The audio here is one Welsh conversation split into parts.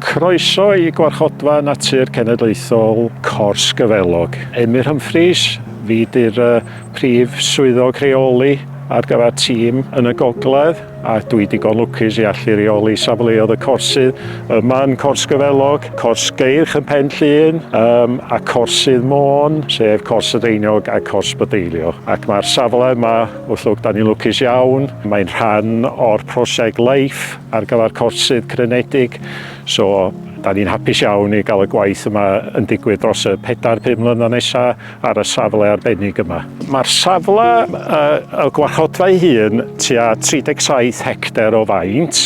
Croeso i Gwarchodfa Natur Cenedlaethol Cors Gyfelog. Emyr Humphreys, fi di'r uh, prif swyddog rheoli ar gyfer tîm yn y gogledd. a dwi digon lwcus i allu reoli safleoedd y corsydd yma yn Cors Gyfelog, Cors Geirch yn Pen Llŷn um, a Corsydd Môn, sef Cors y Deiniog a Cors Bydeilio. Ac mae'r safle yma, wrth lwc, da ni'n lwcus iawn, mae'n rhan o'r prosiect LIFE ar gyfer corsydd crenedig, so da ni'n hapus iawn i gael y gwaith yma yn digwydd dros y 4-5 mlynedd nesaf. ar y safle arbennig yma. Mae'r safle y gwarchodfa'i hun tua 37 hectar o faint,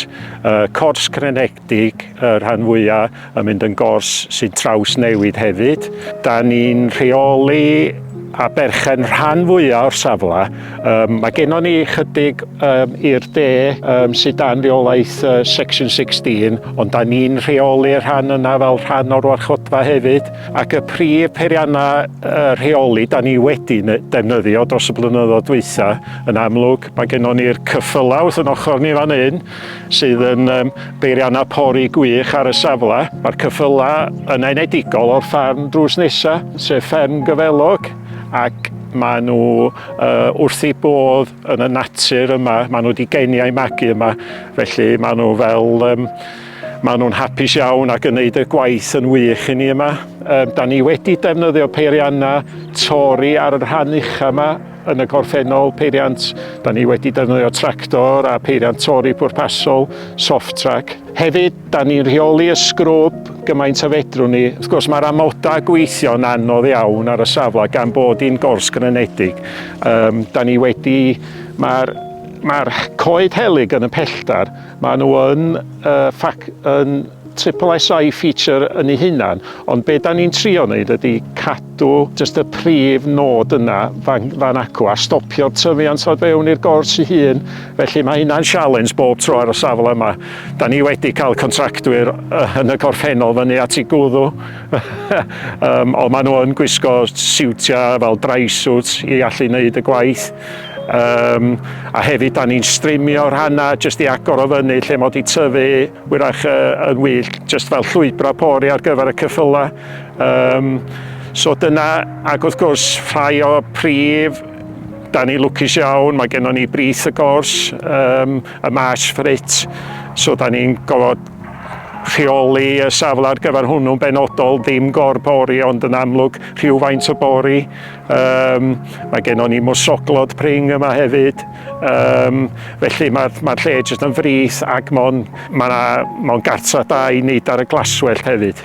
cors crenedig y rhan fwyaf yn mynd yn gors sy'n traws newid hefyd. Da ni'n rheoli a berchen rhan fwyaf o'r safle. Um, mae gennon ni chydig um, i'r de um, sydd dan reolaeth uh, Section 16, ond da ni'n rheoli rhan yna fel rhan o'r warchodfa hefyd. Ac y prif peiriannau uh, rheoli da ni wedi defnyddio dros y blynyddoedd dwytha, yn amlwg, mae gennon ni'r cyffylau wrth yn ochr ni fan hyn, sydd yn um, beiriannau pori gwych ar y safle. Mae'r cyffylau yn enedigol o'r ffarm drws nesaf, sef fferm gyfelog, ac maen nhw uh, wrth ei bodd yn y natur yma, maen nhw wedi geni a'i magu yma, felly maen nhw fel um, Maen nhw'n hapus iawn ac yn gwneud y gwaith yn wych i ni yma. Um, da ni wedi defnyddio peiriannau tori ar y rhan ucha yma yn y gorffennol peiriant. Da ni wedi defnyddio tractor a peiriant tori pwrpasol, soft track. Hefyd, da ni'n rheoli y sgrwb gymaint a fedrwn ni. Wrth gwrs, mae'r amodau gweithio'n anodd iawn ar y safle gan bod hi'n gors grenedig. Um, da ni wedi... Mae'r mae coed helyg yn y pelltar Maen nhw yn uh, yn triple SI feature yn ei hunan, ond be da ni'n trio wneud ydy cadw just y prif nod yna fan, fan acw a stopio'r tyfiant o fewn i'r gors ei hun. Felly mae hynna'n sialens bob tro ar y safle yma. Da ni wedi cael contractwyr yn y gorffennol fyny at i gwddw, um, ond maen nhw yn gwisgo siwtiau fel dry suits i allu wneud y gwaith. Yym, a hefyd da ni'n strimio rhanna jyst i agor o fyny lle mod i tyfu wyrach yy yn wyllt jyst fel llwybra pori ar gyfer y cyffyla. Yym, so dyna ac wrth gwrs rhai o prif da ni lwcus iawn mae gennon ni brith y gors yym y Marsh Frit so da ni'n gofod rheoli y safle ar gyfer hwnnw'n benodol ddim gor bori ond yn amlwg rhywfaint o bori Um, mae gennon ni mwsoglod pring yma hefyd, um, felly mae'r mae lle jyst yn frith ac mae'n ma ma gartra da i wneud ar y glaswellt hefyd.